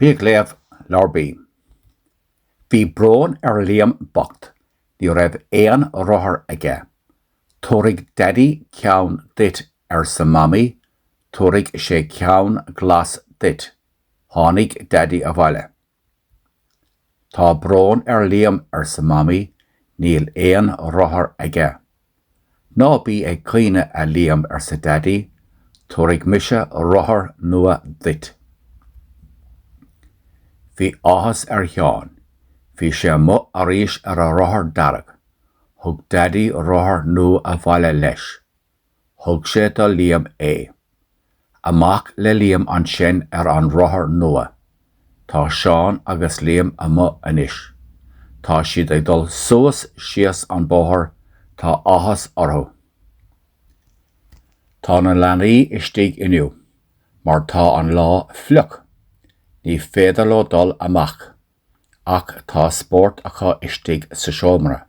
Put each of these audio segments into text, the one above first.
Bí ag Léamh, Leabhar B. Bhí brón ar Liam bocht, ní raibh aon rothar aige. Tabharfaidh Daidí ceann duit, arsa Mamaí, tabharfaidh sé ceann glas duit. Tháinig Daidí abhaile. Tá brón ar Liam, arsa Mamaí, níl aon rothar aige. Ná bí ag caoineadh, a Liam, arsa Daidí, tabharfaidh mise rothar nua duit. Bhí áthas ar Sheán. Bhí sé amuigh arís ar a rothar dearg. Thug Daidí rothar nua abhaile leis. thug sé do Liam é. Amach le Liam ansin ar an rothar nua. Tá Seán agus Liam amuigh anois. Tá siad ag dul suas síos an bóthar, tá áthas orthu. Tá na leanaí istigh inniu mar tá an lá fliuch, ní féidir leo dul amach, ach tá spórt acu istigh sa seomra.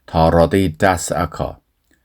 Tá rudaí deasa acu,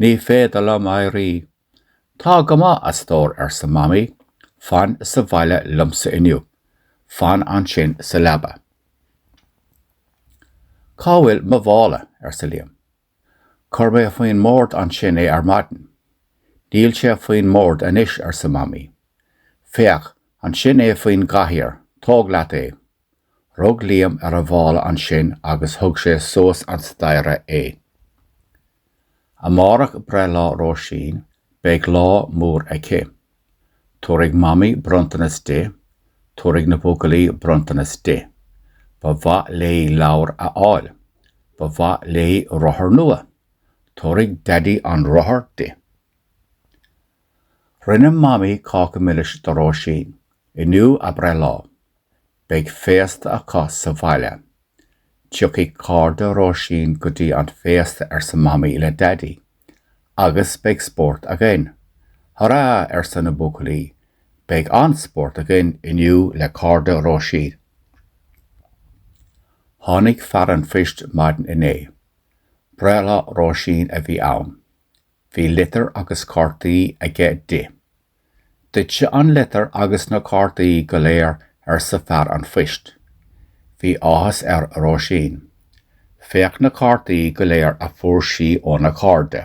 Ní féidir liom éirí. Tá go maith, a stór, arsa Mamaí, fan sa bhaile liomsa inniu. Fan ansin sa leaba. Cá bhfuil mo mhála? arsa Liam. Chuir mé faoin mbord ansin é ar maidin. Níl sé faoin mbord anois, arsa Mamaí. Féach, ansin é faoin gcathaoir, tóg leat é. Rug Liam ar a mhála ansin agus thug sé suas an staighre é. Amárach breithlá Róisín, beidh lá mór aici. Tabharfaidh Mamaí bronntanas di, tabharfaidh na buachaillí bronntanas di. Ba mhaith léi leabhar a fháil. Ba mhaith léi rothar nua. Tabharfaidh Daidí an rothar di. Rinne Mamaí cáca milis do Róisín. Inniu a breithlá. beidh féasta acu sa bhaile. Tiocfaidh cairde Róisín go dtí an féasta arsa Mamaí le Daidí. Agus beidh spórt againn. Hurá! arsa na buachaillí. Beidh an-spórt againn inniu le cairde Róisín. Tháinig fear an phoist maidin inné. Breithlá Róisín a bhí ann. Bhí litir agus cártaí aige di. 'Duitse an litir agus na cártaí go léir, arsa fear an phoist. Bhí áthas ar Róisín. 'Féach na cártaí go léir a fuair sí óna cairde.